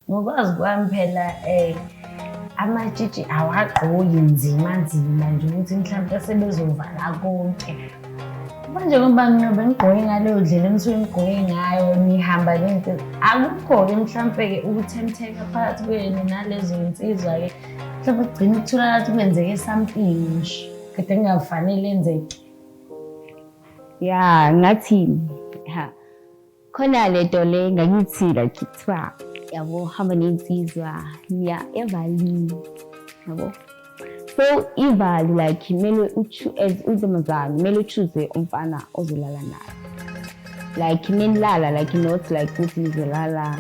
Ngokwazi kwami phela um amatshitshi awagqoki nzima nzima nje ukuthi mhlawumpe sebezovala konke manje ngoba mina bengigqoke ngaleyo ndlela enisuke ngigqoke ngayo nihamba nento akukho-ke mhlawumpe-ke ukuthemtheka phakathi kwenu nalezo nsizwa-ke mhlawumpe kugcina ukutholakala ukuthi kwenzeke something nje kade kungafanele enzeke ya ngathini khona le nto le ngakithi like kuthiwa yabo hamba nensizwa ya evalini yabo so ivali like kumele as untombazane kumele uchuze umfana ozolala naye like nenilala like not like ukuthi nizolala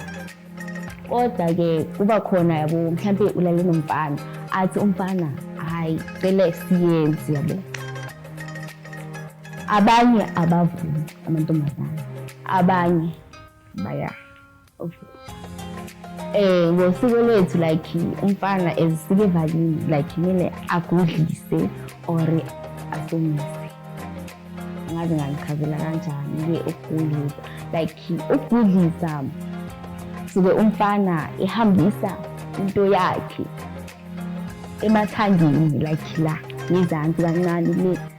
kodwa-ke kuba khona yabo mhlawumpe ulale nomfana athi umfana hhayi cele siyenzi yabo abanye abavumi amantombazane abanye baya eh ngosiko lwethu like umfana ezisike valini like kumele agudlise or asomise ngaze ngangichazela kanjani-ke ukugudlisa like ukugudlisa suke umfana ehambisa into yakhe emathangeni like la ngezansi kancane le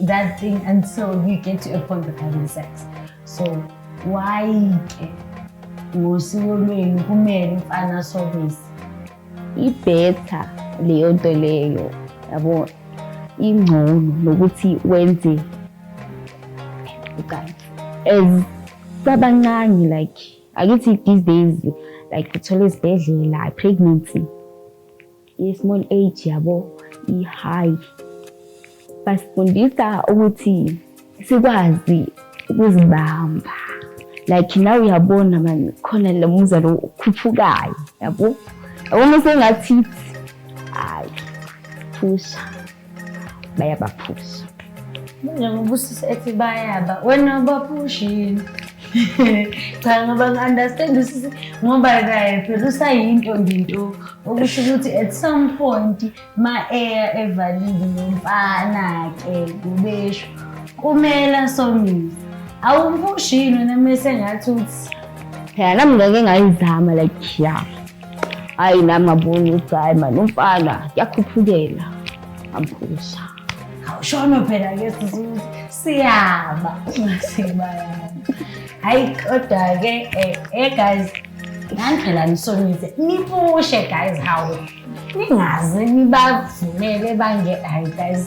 that thing until you get to a point of having sex so why ke ngosiko lwenu kumele umfana asobise ibhetha leyo nto leyo yabo ingcono nokuthi wenze ucansi as sabancane like akithi these days like uthole izibhedlela pregnancy I-small age yabo i-high basifundisa ukuthi sikwazi ukuzibamba like nawe uyabona mani khona lo muzwa lo ukhuphukayo yabo yabona sengathi hayi phusha bayabaphusha njengobusiso ethi bayaba wena baphushini cha ngoba ngi-understand usisi ngoba kaye phela usayinto nginto okusho ukuthi at some point ma-eya evalile nomfana-ke kubesho kumele asomise awumpushini wena mese ngathi uthi phela nami ngeke ngayizama like ya hayi nami ngabona ukuthi hayi mani umfana kuyakhuphukela ngambuza awushono phela ke sisuze siyaba sibayana hayi kodwa-ke eh, eh guys nandlela nisonise nipushe guys hawu ningaze nibavumele bange hayi guys